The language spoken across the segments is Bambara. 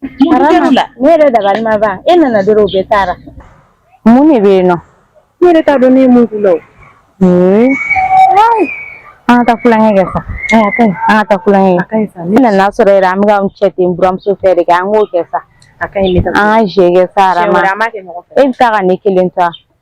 ne yɛrɛ dabali ma ban e nana dɔrɔn u bɛɛ taara mun de bɛ yen nɔ ne yɛrɛ t'a dɔn ne ye mun k'u la o an ka taa tulonkɛ kɛ sa an ka taa tulonkɛ kɛ ne nana sɔrɔ yɛrɛ an bɛ ka cɛ tɛ buranmuso fɛ de kɛ an k'o kɛ sa an ka jeu kɛ sa e bɛ taa ka ne kelen to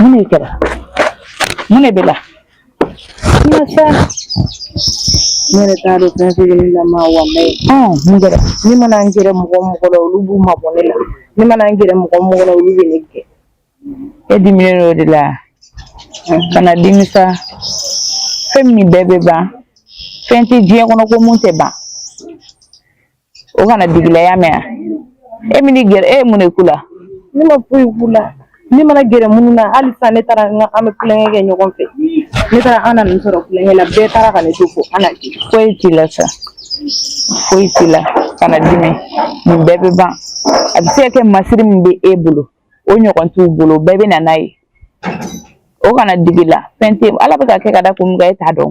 Mun de kɛra mun de b'i la sa ne yɛrɛ t'a dɔn fɛn fɛn ne lama walayi mun kɛra ne mana n gɛrɛ mɔgɔ mɔgɔ la olu b'u mabɔ ne la ne mana n gɛrɛ mɔgɔ mɔgɔ la olu bɛ ne gɛn e diminen don o de la kana dimi sa fɛn min bɛɛ bɛ ban fɛn tɛ diɲɛ kɔnɔ ko min tɛ ban o kana digi i la i y'a mɛn e min gɛrɛ e ye mun de k'u la ne ma foyi k'u la ne mana gɛrɛ minnu na hali sisan ne taara n ko an bɛ tulonkɛ kɛ ɲɔgɔn fɛ ne taara n nana u sɔrɔ tulonkɛ la bɛɛ taara ka ne to fo an na di foyi t'i la sa foyi t'i la kana dimi nin bɛɛ bɛ ban a bɛ se ka kɛ masiri min bɛ e bolo o ɲɔgɔn t'u bolo bɛɛ bɛ na n'a ye o kana digi i la fɛn tɛ ala bɛ ka kɛ ka da kun min kan e t'a dɔn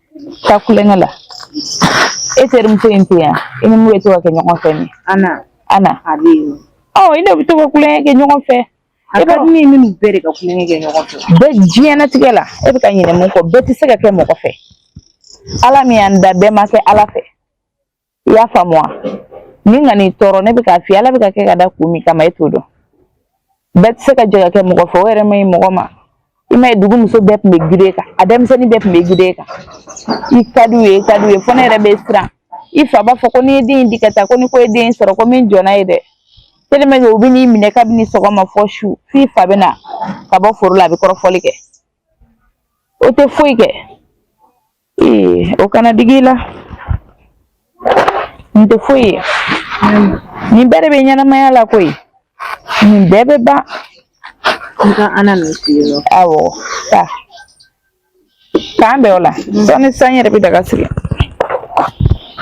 ka tulonkɛ la e terimuso in tɛ yan i ni min bɛ to ka kɛ ɲɔgɔn fɛ nin ana ana a bɛ yen ɔ i n'o bɛ to ka tulonkɛ kɛ ɲɔgɔn fɛ e ka min minnu bɛɛ de ka tulonkɛ kɛ ɲɔgɔn fɛ bɛɛ diɲɛnatigɛ la e bɛ ka ɲinɛ mun kɔ bɛɛ tɛ se ka kɛ mɔgɔ fɛ ala min y'an da bɛɛ ma kɛ ala fɛ i y'a faamu wa nin kan'i tɔɔrɔ ne bɛ k'a f'i ye ala bɛ ka kɛ ka da kun min kama e t'o dɔn bɛɛ tɛ se ka jɛ ka kɛ mɔgɔ fɛ o yɛrɛ man ɲi mɔgɔ ma i m'a ye dugu muso bɛɛ tun bɛ i de kan a denmisɛnnin bɛɛ tun bɛ i de kan i ka d'u ye i ka d'u ye fo ne yɛrɛ bɛ siran i fa b'a fɔ ko n'i ye den in di ka taa ko ni ko ye den in sɔrɔ ko min jɔnna ye dɛ tellement que u bɛ n'i minɛ kabini sɔgɔma fo su f'i fa bɛ na ka bɔ foro la a bɛ kɔrɔfɔli kɛ o tɛ foyi kɛ Eh, o kana digi i la n tɛ foyi ye nin bɛɛ de bɛ ɲɛnamaya la koyi nin bɛɛ bɛ ban n ka ana nin f'i ye nɔ awɔ taa k'an bɛn o la sɔɔni sa ne yɛrɛ bɛ daga sigi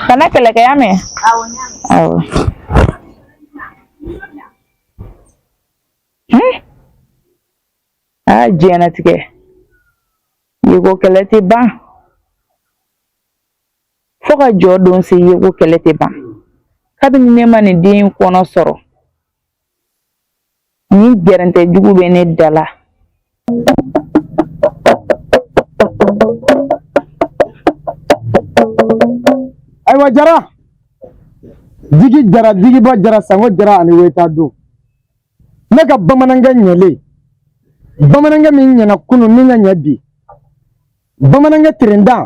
kana kɛlɛ kɛ i y'a mɛn awɔ a diɲɛnatigɛ Ɲɛngo kɛlɛ tɛ ban fo ka jɔ don se ɲɛngo kɛlɛ tɛ ban kabini ne ma nin den kɔnɔ sɔrɔ ni gɛrɛntɛ jugu bɛ ne da la ayiwa jara jigi jara jigiba jara sango jara ani weta don ne ka bamanankɛ ɲɛlen bamanankɛ min ɲɛna kunun ni ka ɲɛ bi bamanankɛ terenda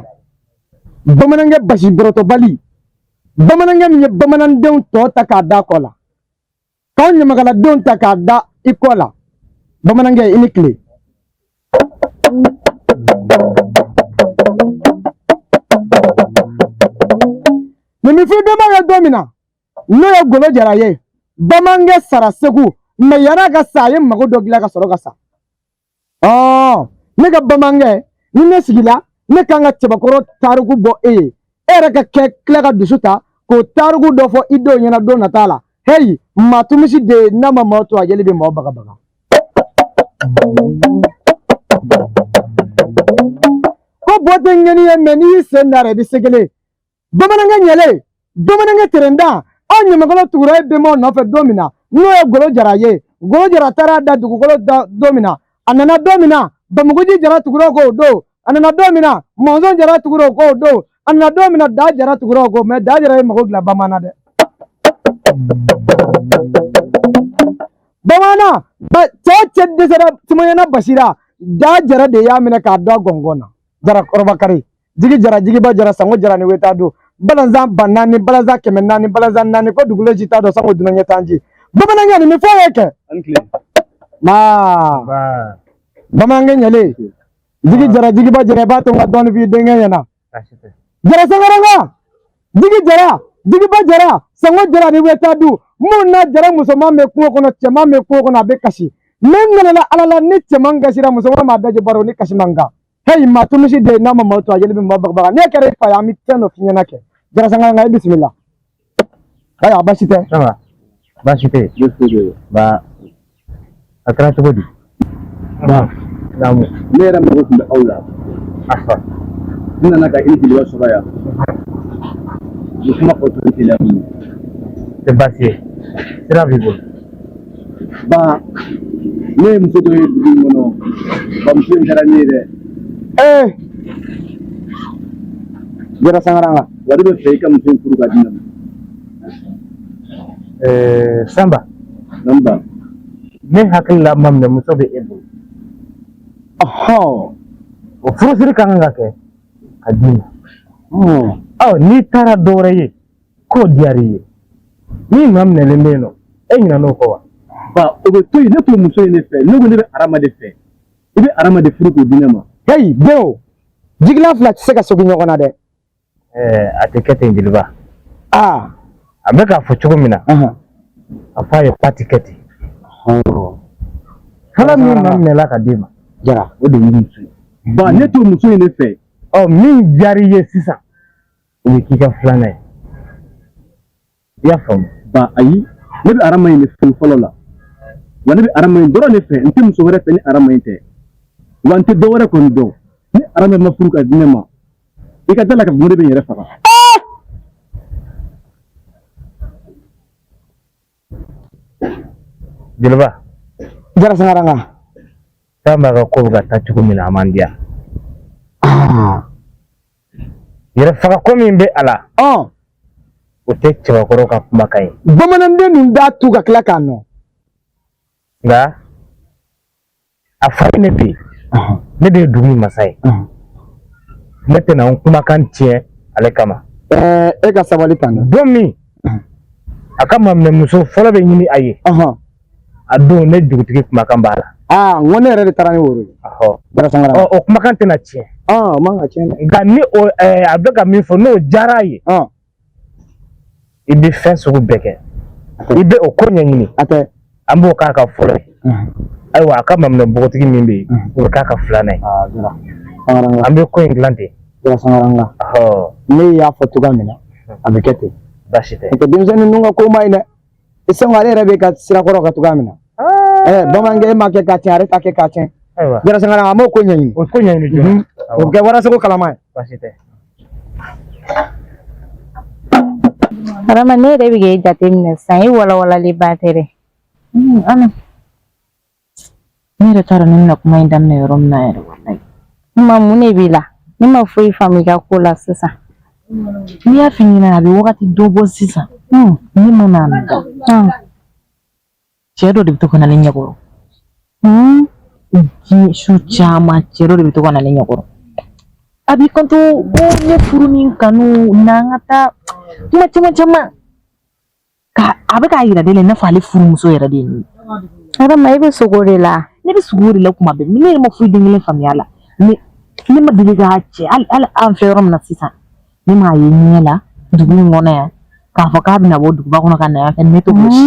bamanankɛ basi bɔrɔtɔbali bamanankɛ min ye bamanandenw tɔ ta k'a da kɔ la k'anw ɲamakaladenw ta k'a da i kɔ la bamanankɛ i ni tile nin bɛ f'i bɛnba ye don min na n'o ye golo jara ye bamanankɛ sara segu mɛ yann'a ka sa a ye mago dɔ dilan ka sɔrɔ ka sa ɔɔ ne ka bamanankɛ ni ne sigila ne kan ka cɛbakɔrɔ tariku bɔ e ye e yɛrɛ ka kɛ tila ka dusu ta k'o tariku dɔ fɔ i denw ɲɛna don nata la heyi maa tu misi den n'a ma maa tu a jeli bɛ maa bagabaga ko bo tɛ ŋɛni ye mɛ n'i y'i sen d'a rɔ i bɛ segelen bamanankɛ ɲɛlen bamanankɛ terenda anw ɲamakalaw tugura e bɛnbaw nɔfɛ don min na n'o ye golo jara ye golo jara taara da dugukolo la don min na a nana don min na bamuguji jara tugura o kɔ don a nana don min na mɔnzɔn jara tugura o kɔ don a nana don min na da jara tugura o kɔ mɛ da jara ye mago dilan bamanan dɛ bamanan cɛ cɛ dɛsɛra samayana basi ra da jara de y'a minɛ k'a don gɔngɔn na jara kɔrɔbakari jigi jara jigiba jara sango jara ni weta du balanzan ba naani balanzan kɛmɛ naani balanzan naani ko dugulenw si t'a dɔn sango dunan ɲɛ t'an ji bamanankɛ nin bɛ fɔ i ye kɛ maa bamanankɛ ɲɛlen jigi jara jigiba jara i b'a to n ka dɔɔni f'i denkɛ ɲɛna jara sangaranka jigi jara jigiba jara sango jara ni weta du mun na jara musoman bɛ kungo kɔnɔ cɛman bɛ kungo kɔnɔ a bɛ kasi ne nana ala la ni cɛman kasira musoman b'a da je baro ni kasi man kan heyi maa tu misi den n'a ma maa tu a jeli bɛ maa bagabaga ne kɛra e fa ye an bɛ fɛn dɔ f'i ɲɛna kɛ jara sangaranka e bisimila ayiwa baasi tɛ baasi tɛ yen ba a kɛra cogo di ba naamu ne yɛrɛ mago tun bɛ aw la afa n nana ka i ni jeliba sɔrɔ yan n kuma fɔ tun tɛ la tɛ baasi ye sira b'i bolo ba ne ye muso dɔ ye dugu in kɔnɔ ba muso in diyara ne ye dɛ ee jara sangaranka wa ne b'a fɛ i ka muso in furu k'a di ne ma Eh, Samba, naamu ba ne hakili la maminɛmuso bɛ e bolo ɔhɔn o furusiri ka kan ka kɛ k'a d'i ma ɔ n'i taara dɔ wɛrɛ ye k'o diyara i ye min maminɛlen bɛ yen nɔ e ɲinɛn'o kɔ wa ba o bɛ to yen ne t'o muso ye ne fɛ ne ko ne bɛ arama de fɛ i bɛ arama de furu k'o di ne ma heyi beo jigilan fila tɛ se ka segin ɲɔgɔn na dɛ ɛɛ a tɛ kɛ ten jeliba aa a bɛ k'a fɔ cogo min na a fɔ a ye ko a tɛ kɛ ten fɔlɔ min maminɛla ka d'i ma jara o de y'i muso ye ba ne t'o muso ye ne fɛ ɔ min diyara i ye sisan o ye k'i ka filanan ye i y'a faamu ba ayi ne bɛ arama in de fɛ fɔlɔ la wa ne bɛ arama in dɔrɔn de fɛ n tɛ muso wɛrɛ fɛ ni arama in tɛ wa n tɛ dɔ wɛrɛ kɔni dɔn ni arama ma furu ka di ne ma i ka da a la k'a fɔ ne bɛ n yɛrɛ faga jeliba jara sangaranga k'an b'a ka ko bɛ ka taa cogo min na a man diya yɛrɛ faga ko min bɛ a la o tɛ cɛbakɔrɔ ka kumakan ye bamanan tɛn'i da tu ka tila k'a nɔn nka a fa ne bɛ yen ne de ye dugu in masa ye ne tɛna n kumakan tiɲɛ ale kama e ka sabali kan don min a ka maminɛmuso fɔlɔ bɛ ɲini a ye a don ne dugutigi kumakan b'a la aa n ko ne yɛrɛ de taara ni woro ye o kumakan tɛna tiɲɛ nka ni a bɛ ka min fɔ n'o diyara a ye i bɛ fɛn sugu bɛɛ kɛ i bɛ o ko ɲɛɲini an b'o k'a ka fɔlɔ ye ayiwa a ka maminɛ npogotigi min bɛ yen o bɛ k'a ka filanan ye an bɛ ko in dilan ten ne y'a fɔ cogoya min na a bɛ kɛ ten baasi tɛ denmisɛnnin ninnu ka ko man ɲi dɛ i sɛgɛn ale yɛrɛ bɛ ka sira kɔrɔ ka cogoya min na ɛɛ bamanankɛ e ma kɛ ka tiɲɛ ale t'a kɛ ka tiɲɛ jara sangaranga an b'o ko ɲɛɲini o ko ɲɛɲini joona o bɛ kɛ warasago kalaman ye baasi tɛ Arama ne yɛrɛ bɛ k'e jateminɛ sisan e walawalalenba tɛ dɛ Ne yɛrɛ t'a dɔn ne bɛna kuma in daminɛ yɔrɔ min na yɛrɛ walayi. Kuma mun de b'i la? Ne ma foyi faamu i ka ko la sisan. Ne y'a f'i ɲɛ na a bɛ wagati dɔ bɔ sisan. Hun. Ne mana n da dɔrɔn. Hun. Cɛ dɔ de bɛ to ka na ne ɲɛkɔrɔ. Hun. Diɲɛ su caman cɛ dɔ de bɛ to ka na ne ɲɛkɔrɔ. A b'i kanto ko ne furu ni n kanu na an ka taa kuma caman caman. ka a bɛ k'a yira de la i n'a fɔ ale furumuso yɛrɛ de ye nin ye arama i bɛ sugo de la ne bɛ sugo de la kuma bɛɛ ne yɛrɛ ma foyi den kelen faamuya a la ne ne ma deli ka cɛ hali hali an fɛ yɔrɔ min na sisan ne m'a ye ɲɛ la dugu in kɔnɔ yan k'a fɔ k'a bɛna bɔ duguba kɔnɔ ka na yan fɛ ne to si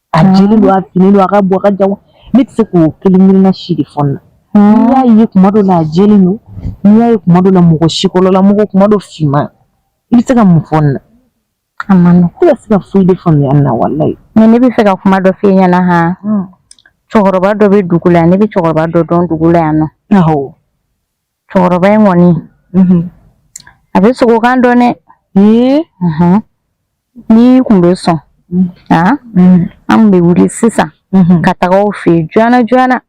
A jeli don a fini don a ka bon a ka jan ne tɛ se k'o kelen kelen na si de fɔ na n'i y'a ye kuma dɔ la a jeli don n'i y'a ye kuma dɔ la mɔgɔ sikɔlɔla mɔgɔ kuma dɔ finman i bɛ se ka mun fɔ na a ma ne tɛ se ka foyi de faamuya na walayi mɛ ne b'a fɛ ka kuma dɔ f'i ɲɛna han cɛkɔrɔba dɔ bɛ dugu la ne bɛ cɛkɔrɔba dɔ dɔn dugu la yan nɔ cɛkɔrɔba in kɔni a bɛ sogokan dɔn dɛ n'i kun bɛ sɔn an bɛ wuli sisan ka taga o fɛ yen joona joona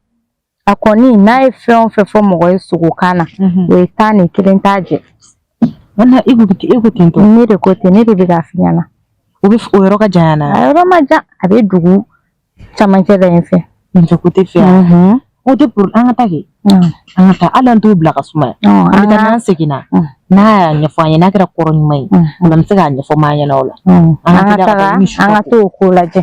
a kɔni n'a ye fɛn o fɛn fɔ mɔgɔ ye sogokan na o ye tan ye kelen t'a jɛ e ko ten tɔ ne de ko ten ne de bɛ k'a f'i ɲɛna o bɛ o yɔrɔ ka jan na a yɔrɔ ma jan a bɛ dugu camancɛ da in fɛ nin kote fɛ o tɛ poro an ka taa kɛ an ka taa a la an t'o bila ka suma an ka n'an seginna n'a y'a ɲɛfɔ an ye n'a kɛra kɔrɔ ɲuman ye o la an bɛ se k'a ɲɛfɔ maa ɲɛna o la an ka taa an ka t'o ko lajɛ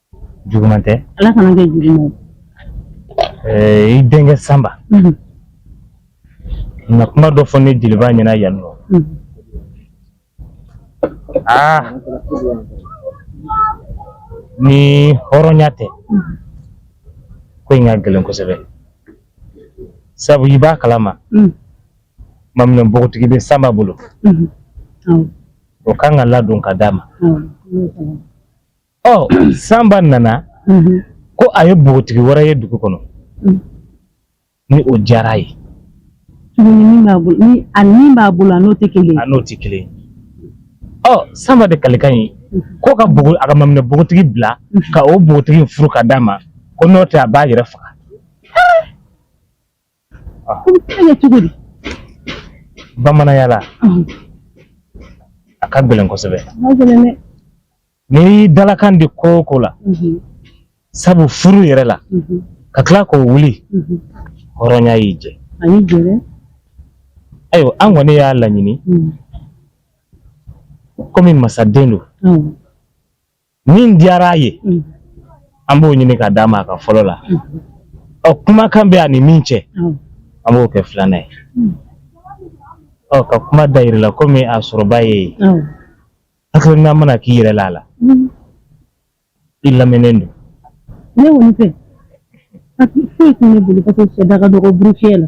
juguman tɛ ala kana kɛ juguman ye i denkɛ sanba mhm. na kuma dɔ fɔ ne jeliba ɲɛna yan nɔ mhm. aa ah! ni hɔrɔnya tɛ mhm. ko in ka gɛlɛn kosɛbɛ sabu i b'a kalama ko maminɛ bogotigi bɛ sanba bolo o kan ka ladon ka d'a ma ɔ sanba nana ko a ye bogotigi wɛrɛ ye dugu kɔnɔ ni o diyara a ye tuguni min b'a bolo ni a min b'a bolo a n'o tɛ kelen ye a n'o tɛ kelen ye ɔ sanba de kalikan ye ko ka bogo a ka maminɛ bogotigi bila ka o bogotigi furu ka d'a ma ko n'o tɛ a b'a yɛrɛ faga ko n t'a kɛ cogo di bamananya la Ɔhɔn, a ka gɛlɛn kosɛbɛ a ka gɛlɛn dɛ n'i dalakan di ko o ko la Mhm, sabu furu yɛrɛ la mhm, ka tila k'o wuli mhm. hɔrɔnya y'i jɛ a y'i jɛ dɛ ayiwa an kɔni y'a laɲini Mhm, komi masaden don awɔ min diyara a ye mm. an b'o ɲini ka d'a ma a ka fɔlɔ la mm. ɔ kumakan bɛ a ni min cɛ mm. an b'o kɛ filanan ye ɔ ka kuma da yɛrɛ la komi a sɔrɔba ye hakilina mana k'i yɛrɛ la a la i lamɛnnen don ne kɔni fɛ foyi tɛ ne bolo katugu syɛ da ka dɔgɔ burufiyɛ la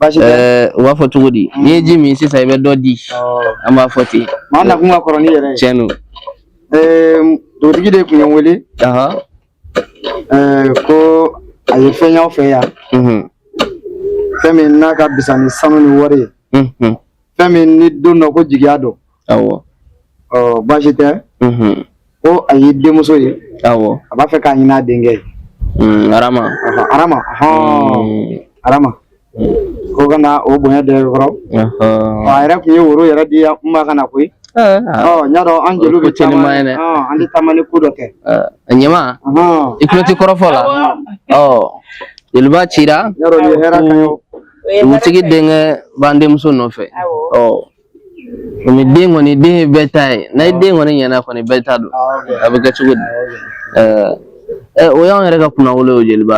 Baasi tɛ. Ɛɛ u b'a fɔ cogo di n'i ye ji min sisan i bɛ dɔ di an b'a fɔ ten Maa nakun ka kɔrɔ n'i yɛrɛ ye. tiɲɛ don Ɛɛ dugutigi de tun ye n wele Ahan, ɛɛ ko a ye fɛn y'aw fɛ yan mhm, fɛn min n'a ka fisa ni sanu ni wari ye mhm, fɛn min ni don dɔ ko jigiya don awɔ ɔ baasi tɛ ko a ye denmuso ye awɔ a b'a fɛ k'a ɲin'a denkɛ ye hmm, arama arama hmm. arama ko ka na o bonya d'e kɔrɔ a yɛrɛ tun ye woro yɛrɛ di n ma ka na koyi eh, ah. ɔ n y'a dɔn an jeliw bɛ caman ye an tɛ taama ni ko dɔ kɛ eh, ɲɛma i tulo tɛ kɔrɔfɔ la ɔ jeliba cira n y'a dɔn nin ye hɛrɛ kan ye dugutigi denkɛ b'an denmuso nɔfɛ komi den kɔni den ye bɛɛ ta ye n'a ye den kɔni ɲɛna kɔni bɛɛ ta don a bɛ kɛ cogo di ɛ o y'anw yɛrɛ ka kunnawolo ye jeliba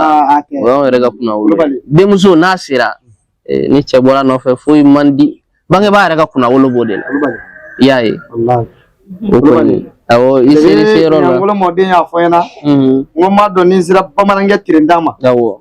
o y'anw yɛrɛ ka kunnawolo denmuso n'a sera ni cɛ bɔra nɔfɛ foyi man di bangebaa yɛrɛ ka kunnawolo b'o de la i y'a ye o kɔni awɔ i ser'i se yɔrɔ la ɲangolo mɔden y'a fɔ n ɲɛna n ko n b'a dɔn ni n sera bamanankɛ tirenda ma awɔ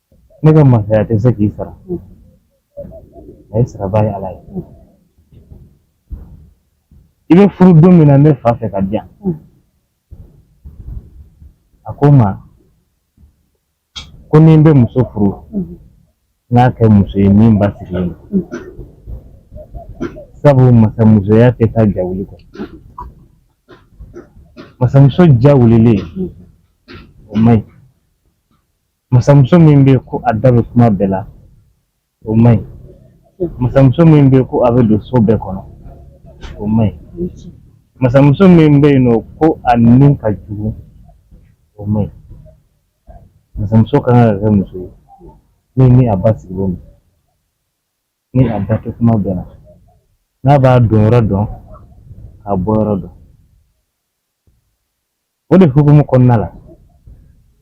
ne ka masaya tɛ se k'i sara i sarabaa ye ala ye i bɛ furu don min na ne fa fɛ ka di yan a ko n ma ko ni n bɛ muso furu n k'a kɛ muso ye min basigilen don sabu masamusoya tɛ taa jawuli kɔ masamuso jawulilen o man ɲi masamuso min bɛ ko a da bɛ kuma bɛɛ la o man ɲi masamuso min bɛ ko a bɛ don so bɛɛ kɔnɔ o man ɲi masamuso min bɛ yen nɔ ko a ni ka jugu o man ɲi masamuso kan ka kɛ muso ye min ni a basigilen don ni a da tɛ kuma bɛɛ la n'a b'a don yɔrɔ dɔn k'a bɔ yɔrɔ dɔn O de hukumu kɔnɔna la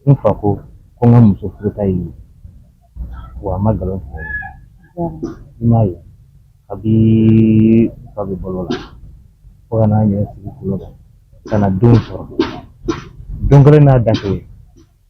n fa ko ko n ka muso furuta ye wa a ma nkalon tigɛ i m'a ye kabi fa bɛ balo la fo ka na ne sigi golo kan ka na denw sɔrɔ don kelen n'a da ye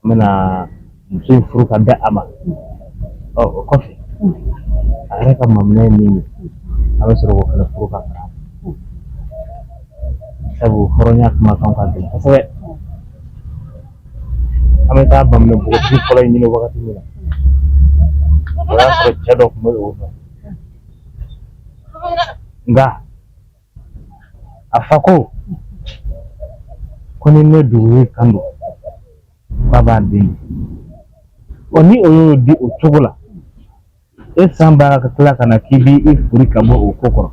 N bɛna muso in furu ka bɛn a ma ɔ o kɔfɛ a yɛrɛ ka maminɛ ye min ye a bɛ sɔrɔ k'o fana furu ka fara a kan sabu hɔrɔnya kumakan ka gɛlɛn kosɛbɛ an bɛ taa maminɛ npogotigi fɔlɔ in ɲini wagati min na o y'a sɔrɔ cɛ dɔ tun bɛ o nɔfɛ nka a fa ko ko ni ne dugu kan don k'a b'a den ɔ ni o y'o di o cogo la e san b'a ka tila ka na k'i b'i furi ka bɔ o ko kɔrɔ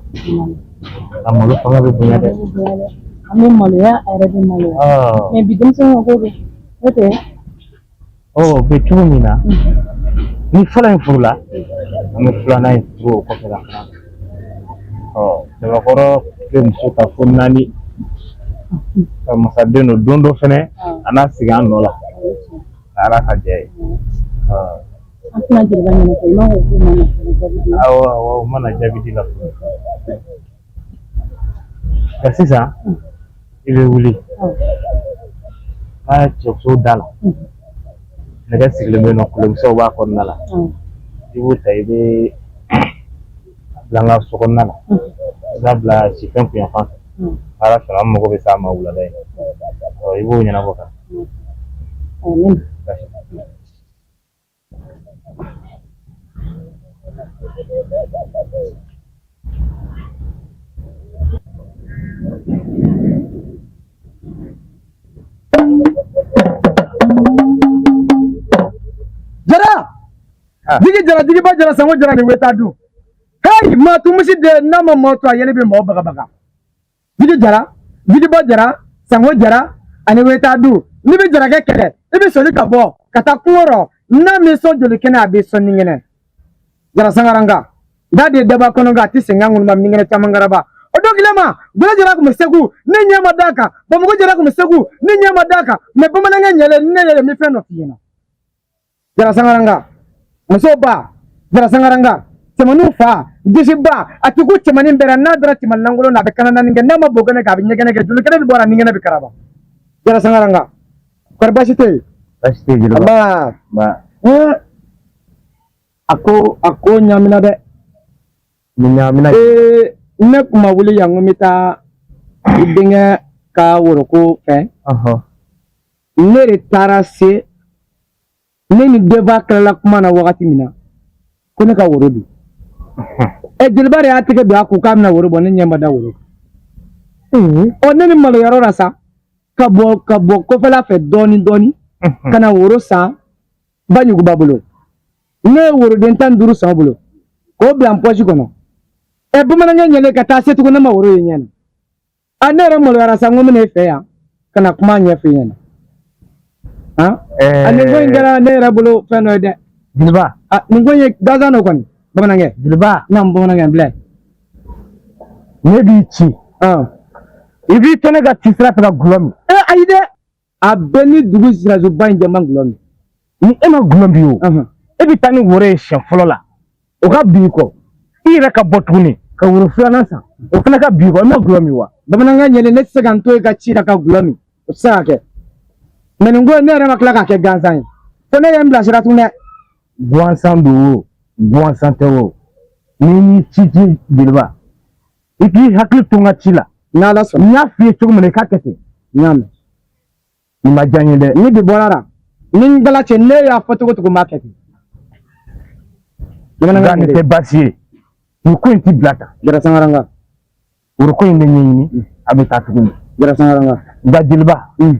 a malo fanga bɛ bonya dɛ an bɛ maloya a yɛrɛ bɛ maloya mɛ bi denmisɛnninw ko don n'o tɛ Ɔ o bɛ cogo min na ni fɔlɔ in furula an bɛ filanan in furu o kɔfɛ la fana ɔ cɛbakɔrɔ bɛ muso kafo naani ka masaden don dɔ fɛnɛ a n'a sigi an nɔ la a ala ka jɛ ye ɔ An tɛna jeliba ɲɛnafɔ i ma ko k'u mana furu jaabi di awɔ awɔ o mana jaabi di la fɔlɔ Nka sisan i bɛ wuli n ka cɛso da la nɛgɛ sigilen bɛ yen ɔ kolonkisɛw b'a kɔnɔna la i b'o ta i b'a bila n ka so kɔnɔna la i b'a bila sifɛn kunyanfan ala sɔnna an mago bɛ s'a ma wulada in i b'o ɲɛnabɔ kan jigi jara jigiba jara sango jara ni weta du hee maa tumusi de n'a ma maa to a yɛlɛ bɛ mɔgɔ bagabaga Jigi jara jigibɔ jara sango jara ani weta du n'i bɛ jarakɛ kɛlɛ i bɛ soli ka bɔ ka taa kungo rɔ n'a m'i sɔn joli kɛnɛ a b'i sɔn ni kɛnɛ jara sangaranga n'a de daba kɔnɔ nka a tɛ senkan ŋunu ma ni kɛnɛ caman karaba o don kelen ma bolo jara tun bɛ segu ne ɲɛ ma d'a kan bamakɔ jara tun bɛ segu ne ɲɛ ma d'a kan mɛ bamanankɛ ɲɛlɛ ne yɛrɛ bi fɛn dɔ f'i ɲɛna jara sangaranga muso ba jara sangaranga cɛmanninw fa disi ba a ti kun cɛmannin bɛɛ la n'a dara cɛmannin lankolon na a bɛ kana naani kɛ n'a ma bo kɛnɛ kɛ a bɛ ɲɛgɛnɛ kɛ joli kɛnɛ bɛ bɔ a la ni kɛnɛ bɛ karaba jara sangaranga kɔri baasi tɛ jeliba a ko a ko ɲamina dɛ Ɲamina ee ne kun ma wuli yan ko n bɛ taa i denkɛ ka woroko fɛ ne de taara se ne ni denba tilala kuma na wagati min na ko ne ka woro di ɛ jeliba de y'a tɛgɛ don a kun k'a bɛna woro bɔ ne ɲɛ ma da woro ɔ ne ni maloyɔrɔ lasa ka bɔ kɔfɛla fɛ dɔɔnin dɔɔnin ka na woro san ba ɲuguba bolo ne ye woroden tan ni duuru san bolo k'o bila n pɔsi kɔnɔ ɛ bamanankɛ ɲɛlen ka taa se tugun ne ma woro ye ɲɛ na a ne yɛrɛ maloyara sa n ko n bɛna e fɛ yan ka na kuma ɲɛfɔ i ɲɛna ani ko in kɛra ne yɛrɛ bolo fɛn dɔ ye dɛ jeliba nin ko in ye gansan dɔ kɔni bamanankɛ jeliba naamu bamanankɛ bila ne b'i ci i b'i to ne ka ci sira fɛ ka gulɔ min ayi dɛ a bɛɛ ni dugu sirasuba in jama gulɔ min ni e ma gulɔ min o e bɛ taa ni woro ye siɲɛ fɔlɔ la o ka bin i kɔ i yɛrɛ ka bɔ tuguni ka woro filanan san o fana ka bin i kɔ i ma gulɔ min wa bamanankɛ ɲɛlen ne tɛ se ka n to e ka ci la ka gulɔ min o tɛ se ka kɛ mɛ nin ko ne yɛrɛ ma tila k'a kɛ gansan ye fo ne ye n bilasira tun dɛ gansan don o gansan tɛ o ni n y'i ci jeliba i k'i hakili to n ka ci la n y'a f'i ye cogo min na i k'a kɛ ten n y'a mɛn nin ma diya n ye dɛ ni bi bɔra a la ni ngala cɛ ne y'a fɔ cogo cogo n b'a kɛ ten bamanankɛ nin tɛ baasi ye nin ko in tɛ bila tan jara sangaranga woro ko in de ɲini mm. a bɛ taa tuguni jara sangaranga nka jeliba mm.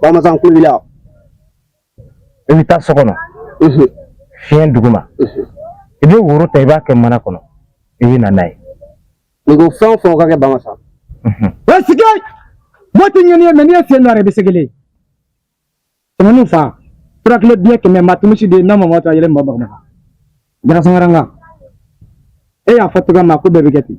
Bamasa kulu la i bɛ taa so kɔnɔ fiɲɛ dugu ma i bɛ woro ta i b'a kɛ mana kɔnɔ i bɛ na n'a ye n ko fɛn fɛn ka kɛ bamasa sigi mo tɛ ɲɛn'i ye mɛ n'i ye fiɲɛ dɔ i bɛ segin tɛmɛn'u fa furakilo diɲɛ kɛmɛ ma tumisi de ye n'a ma ta yɛlɛ ma bamanan jara sangaranga e y'a fɔ cogo min na ko bɛɛ bɛ kɛ ten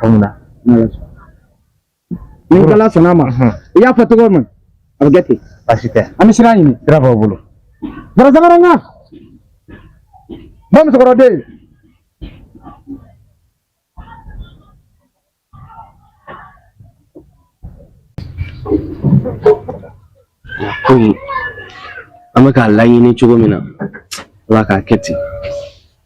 faamuya ni ala sɔnna ma i y'a fɔ cogo min a bɛ kɛ ten baasi tɛ an bɛ sira ɲini sira b'aw bolo jara sangaranga ba musokɔrɔden komi an bɛ k'a laɲini cogo min na ala k'a kɛ ten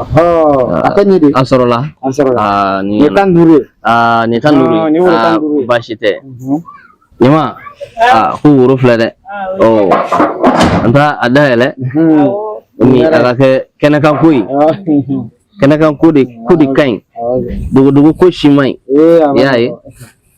a ka ɲi dɛ a sɔrɔla a sɔrɔla nin tan duuru nin tan duuru baasi tɛ ɲama ko woro filɛ dɛ an t'a dayɛlɛ ni a ka kɛ kɛnɛkanko ye kɛnɛkanko de ka ɲi dogodogo ko si man ɲi i y'a ye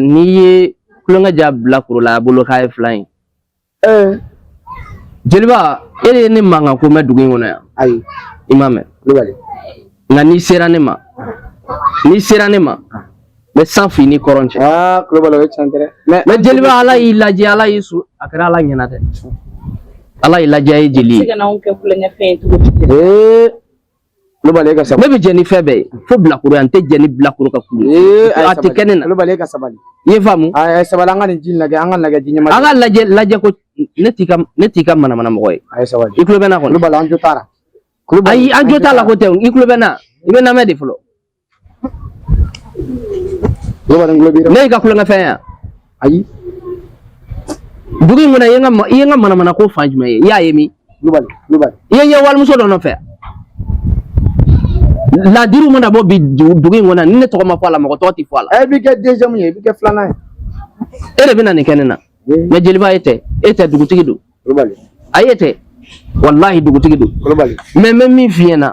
n'i ye kulonkɛ ja bilakoro la a bolo k'a ye filan ye jeliba e de ye ne mankan ko mɛn dugu in kɔnɔ yan ayi i m'a mɛn nka n'i sera ne ma n'i sera ne ma n bɛ sanfin ni kɔrɔn cɛ aa kulobali o ye tiɲɛ tɛ mɛ jeliba ala y'i lajɛ ala y'i su a kɛra ala ɲɛna dɛ ala y'i lajɛ ye jeli ye kulubali ka sabali ne bɛ jɛ ni fɛn bɛɛ ye fo bilakoroya n tɛ jɛ ni bilakoro ka kulu ye a tɛ kɛ ne na kulubali ka sabali i ye faamu a ye sabali an ka nin ji lajɛ an ka lajɛ ji ɲɛma an ka lajɛ lajɛ ko ne t'i ka ne t'i ka manamana mɔgɔ ye a ye sabali i kulo bɛ n na kɔni kulubali an jo t'a la ayi an jo t'a la ko tɛ i kulo bɛ n na i bɛ n namɛn de fɔlɔ ne ka kulonkɛ fɛn yan ayi dugu in kɔnɔ i ye n ka i ye n ka manamana ko fan jumɛn ye i y'a ye min i ye n ye walimuso dɔ nɔfɛ ladiriw mana bɔ bi dugu in kɔnɔ ni ne tɔgɔ ma fɔ a la mɔgɔ tɔgɔ tɛ fɔ a la. ɛ i bɛ kɛ deuxième ye i bɛ kɛ filanan ye. e de bɛ na nin kɛ ne na. mɛ jeliba e tɛ e tɛ dugutigi dɔn. kulubali. ayi e tɛ walahi dugutigi dɔn. kulubali. mɛ n bɛ min f'i ɲɛna.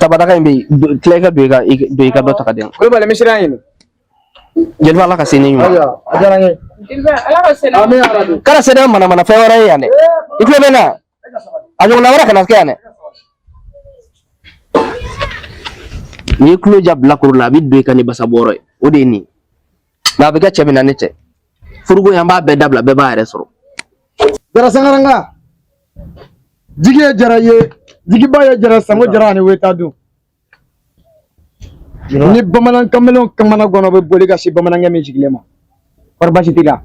Tabadaga in bɛ yen tila i ka don i ka don i ka dɔ ta ka di yan. Kulubali misiri y'a ɲini. Jeliba ala ka se ni ɲuman. Ayiwa a diyara n ye. Jeliba ala ka se. Amiina yarabi. Kana se ni manamana fɛn wɛrɛ ye yan dɛ. I tulo bɛ n na. A ɲɔgɔnna wɛrɛ kana kɛ yan dɛ. N'i ye tulo ja bilakoro la a bɛ don i kan ni basa bɔrɔ ye o de ye nin ye. Nka a bɛ kɛ cɛ min na ne tɛ furuko in an b'a bɛɛ dabila bɛɛ b'a yɛrɛ sɔrɔ jara sangaranga jigi ye jara ye jigiba ye jara sango jara ani weta dun ni bamanan kamalen kamana ganna a bɛ boli ka se bamanankɛ min sigilen ma kɔri basi t'i la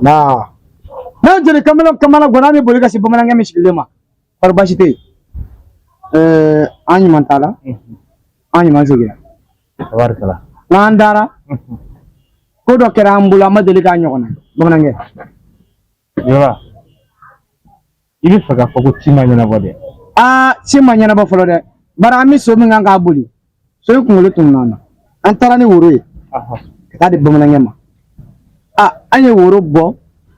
n'a jeli kamalen kamana ganna a bɛ boli ka se bamanankɛ min sigilen ma kɔri baasi tɛ yen eh, an ɲuman taara an ɲuman seginna tabarikala nka jara ko dɔ kɛra an bolo an ma deli k'a ɲɔgɔnna bamanankɛ jeliba i b'a fɛ k'a fɔ ko ci ma ɲɛnabɔ dɛ aa ci ma ɲɛnabɔ fɔlɔ dɛ bari an bɛ so min kan k'a boli so in kunkolo tununna an taara ni woro ye ka taa di bamanankɛ ma a an ye woro bɔ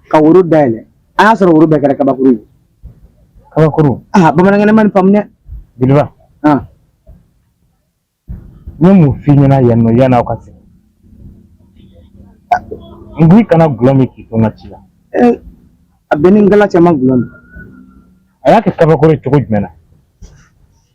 ka woro dayɛlɛ an y'a sɔrɔ woro bɛɛ kɛra kabakuru ye kabakuru aa bamanankɛ ne ma nin faamu dɛ jeliba Ah. n ye mun f'i ɲɛna yan nɔ yan'aw ka se n ko i kana gulɔ min k'i to n ka ci la Eh, a bɛ n ni ngala cɛ n ma gulɔ min a y'a kɛ kabakuru ye cogo jumɛn na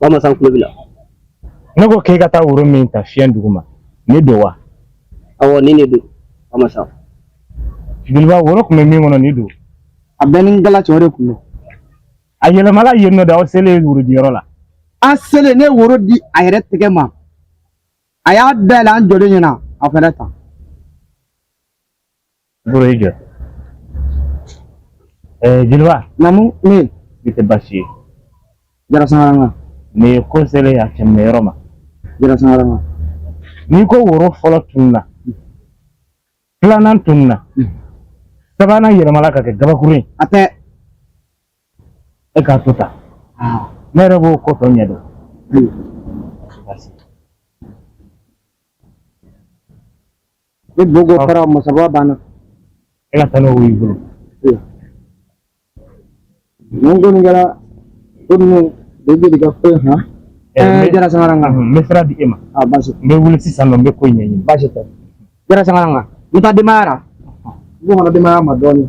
bamasan kulo bila ne ko k'e ka taa woro min ta fiɲɛ duguma nin don wa awɔ nin de don bamasan jeliba woro tun bɛ min kɔnɔ nin don a bɛ n ni ngala cɛ o de tun don a yɛlɛmala yen nɔ de aw selen worodiyɔrɔ la an selen ne ye woro di a yɛrɛ tɛgɛ ma a y'a dayɛlɛ an jɔlen ɲɛna a fɛnɛ ta Buro i jɔ. Eh, Jeliba, Namu nin tɛ baasi ye. jara sangaranga Nin ye ko selen a kɛmɛ yɔrɔ ma. jara sangaranga N'i ko woro fɔlɔ tununna, filanan tununna, Mm. sabanan yɛlɛmala ka kɛ gabakuru ye, a tɛ e k'a to tan. aa Ne yɛrɛ b'o ko tɔ ɲɛdɔn. ayi Baasi. ni boko fara masaba banna e ka taa n'o y'i bolo mun kɔni kɛra ko ninnu bɛ jeli ka ko in kan ɛɛ jara sangaranga n bɛ sira di e ma a baasi n bɛ wuli sisan nɔ n bɛ ko in ɲɛɲini baasi tɛ jara sangaranga n taa denbaya la n bɛ denbaya ma dɔɔnin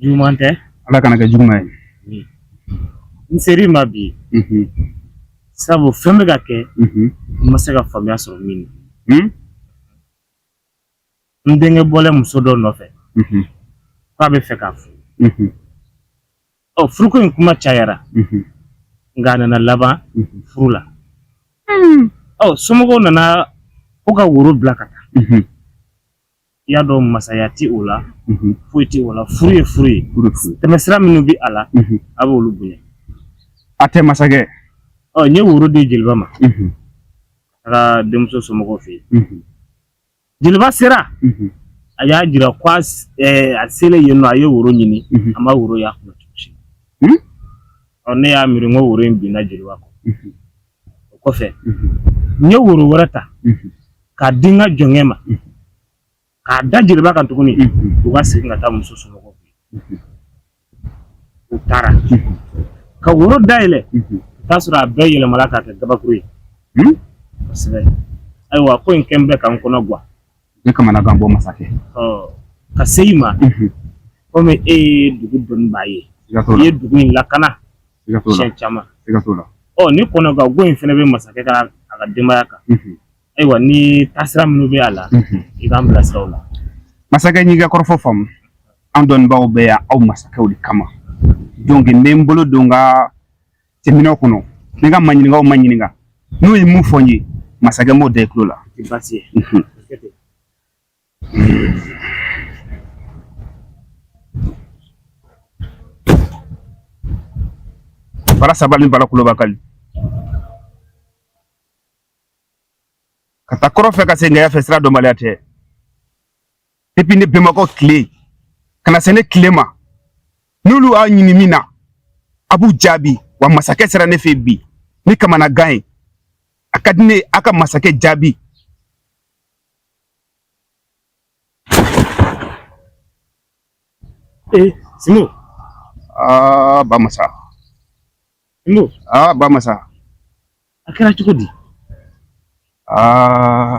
juguman tɛ ala kana kɛ juguman ye n ser'i ma bi sabu fɛn bɛ ka kɛ n ma se ka faamuya sɔrɔ min na n denkɛ bɔlen muso dɔ nɔfɛ k'a bɛ fɛ k'a furu ɔ furuko in kuma cayara nka a nana laban furu la ɔ somɔgɔw nana ko ka woro bila ka taa i y'a dɔn masaya tɛ o la mhm. foyi tɛ o la furu ye furu ye tɛmɛsira minnu bɛ a la mhm. a b'olu bonya hatɛ masakɛ ɔ n ye woro di jeliba ma mhm. a ka denmuso somɔgɔw fɛ yen jeliba sera a y'a jira ko a selen yen nɔ a ye woro ɲini a ma woro y'a kun ɔ ne y'a miiri n ko woro in binna jeliba kɔ o kɔfɛ n ye woro wɛrɛ ta k'a di n ka jɔnkɛ ma k'a da jeliba kan tuguni u ka segin ka taa muso somɔgɔw fɛ yen. u taara ka woro dayɛlɛ ka t'a sɔrɔ a bɛɛ yɛlɛmala k'a kɛ gabakuru ye kosɛbɛ ayiwa ko in kɛn bɛ ka n kɔnɔ gwan ne kamanagan bɔ masakɛ ka se i ma mhm. komi e ye dugu dɔnnibaa ye i ye dugu in lakana siɲɛ caman ɔ ni kɔnɔganko in fana bɛ masakɛ kan a ka denbaya kan mhm. ayiwa ni taasira minnu bɛ a la mhm. i k'an bilasira o la masakɛ n y'i ka kɔrɔfɔ faamu an dɔnnibaaw bɛ yan aw masakɛw de kama donc n bɛ n bolo don n ka cɛminɛn kɔnɔ ne ka maɲininkaw maɲininka n'u ye mun fɔ n ye masakɛ n b'o da i tulo la bara saba ni bala kuloba kali ka taa kɔrɔ fɛ ka segin yan fɛ sira dɔnbaliya tɛ depuis ne bɛnbakɛw tile ka na se ne tile ma n'olu y'a ɲini min na a b'u jaabi wa masakɛ sera ne fɛ bi ni kamanagan ye a ka di ne ye a ka masakɛ jaabi ee sinbo aa ba masa sinbo aa ba masa a kɛra cogo di aa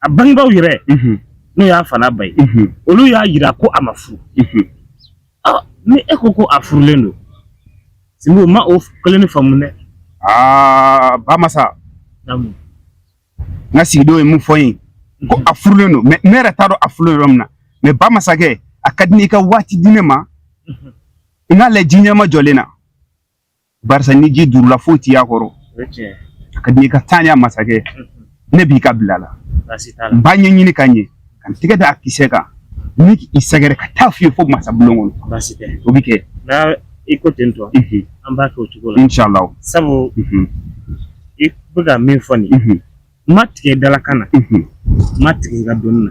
a bangebaw yɛrɛ n'o y'a fa n'a ba ye olu y'a yira ko a ma furu ni e ko ko a furulen don sinbo n ma o kelen nin faamu dɛ aa ba masa n ka sigidenw ye mun fɔ n ye ko a furulen don mais ne yɛrɛ t'a dɔn a furulen yɔrɔ min na mais ba masakɛ a ka di n ye i ka waati di ne ma n k'a lajɛ ji ɲɛmajɔlen na barisa ni ji duurula foyi tɛ y'a kɔrɔ a ka di n ye i ka taa ɲɛ masakɛ ne b'i ka bila la n b'a ɲɛɲini ka ɲɛ ka n tɛgɛ da a kisɛ kan ka i sɛgɛrɛ ka taa f'i ye fo masa bulon kɔnɔ o bɛ kɛ i ko ten tɔ an b'a kɛ o cogo la inshallah sabu i bɛ ka min fɔ nin n ma tigɛ i dalakan na n ma tigɛ i ka dɔnni na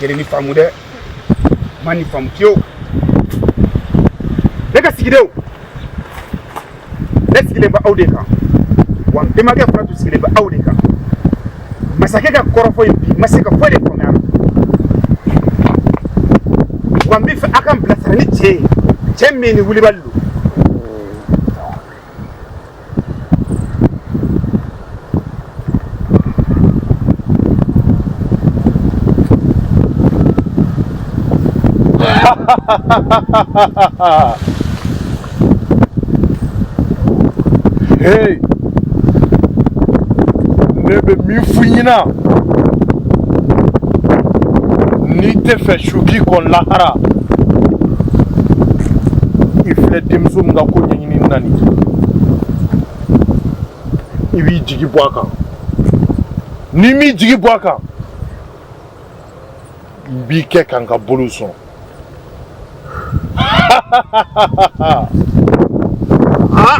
kelen nin faamu dɛ n ma nin faamu fiyewu ne ka sigidenw ne sigilen bɛ aw de kan wa n bɛnbakɛ fana tun sigilen bɛ aw de kan masakɛ ka kɔrɔfɔ in bi n ma se ka foyi de faamuya a la wa n b'a fɛ aw ka n bilasira ni cɛn ye cɛn min ni wulibali don hey ne bɛ min fɔ i ɲɛna n'i t'a fɛ su k'i kɔn lahara i filɛ denmuso min ka ko ɲɛ ɲini na nin i b'i jigi bɔ a kan n'i m'i jigi bɔ a kan n b'i kɛ ka n ka boliw sɔn ah!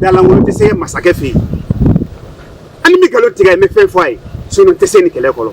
da lankolon tɛ se masakɛ fɛ yen ali ni n bɛ nkalon tigɛ n bɛ fɛn fɔ a ye sinon n tɛ se nin kɛlɛ kɔrɔ